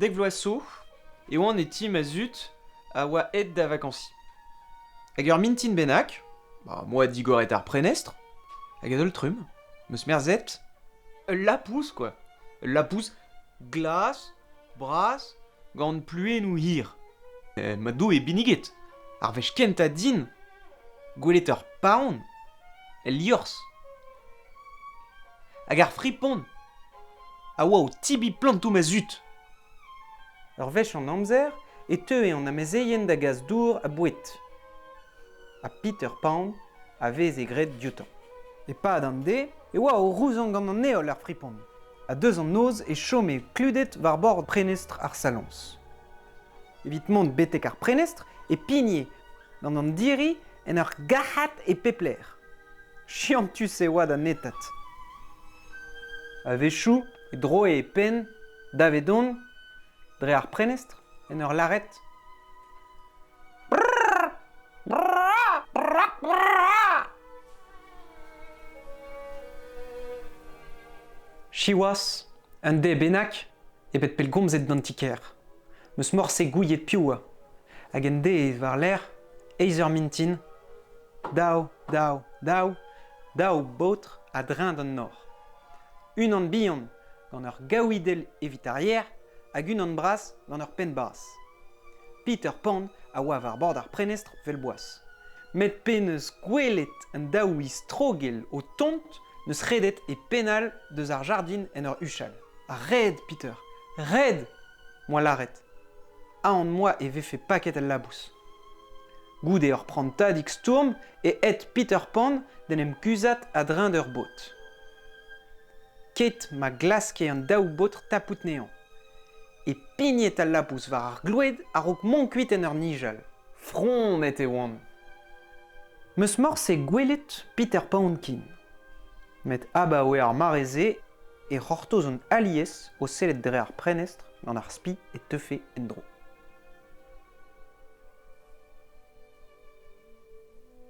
Dek vloaz 'zo e oan e ti ma zud a oa aet da vakansi. Hag ur mintin bennak, ba, moi digoret ar prenestr, hag a-daol trumm, 'm eus merzet, ul lapous, quoi. Ul lapous glas, bras gant pluennoù hir. ma Doue binniget, ar wech kentañ din gwelet ur paon el liorzh. Hag ar fripon a oa o tibiñ plantoù ma zud. Ur wech an amzer e teue an amezeien da gas dour ha boued. Ha Peter Pan a veze graet dioutañ. E-pad an dez e oa o rouzañ gant an heol ar fripon, ha deus an noz e chome kluded war bord prenestr ar saloñs. Evit mont betek ar prenestr e pigne gant an diri en ur gac'hat e pep lec'h. Chiantus e oa da netat. A-wechoù e droe e penn davedon dre ar prenestr en ur lâret Siwazh, un dez bennak ebet pellgomzet d'an ti-kêr. M'eus morse gouiet piv oa. Hag un dez war-lerc'h, eizh eur mintin, dav, dav, dav, daou baotr a-dreñv d'an nor. Unan bihan gant ur gaouidell evit ar yer hag unan bras gant ur penn bas. Peter Pan a oa war bord ar prenestr 'vel boas. Met pe n'eus gwelet an daou istrogell o tont n'eus redet e penn all deus ar jardin en ur huchal. Ret, Peter, ret! Moa lâret. Aon moa e vefe paket al labous. Goude ur prantadig stourm e aet Peter Pan d'en em guzhat a-dreñv d'ur bod. ket ma glaske an daou baotr tapout anezhañ. E pigned al labous war ar gloued a-raok mont kuit en ur nijal. Fromet e oan. Meus morse gwelet Peter Poundkin. Met abaoe ar mare-se e c'hortoz an alies o sellet dre ar prenestr gant ar spi e teufe en-dro.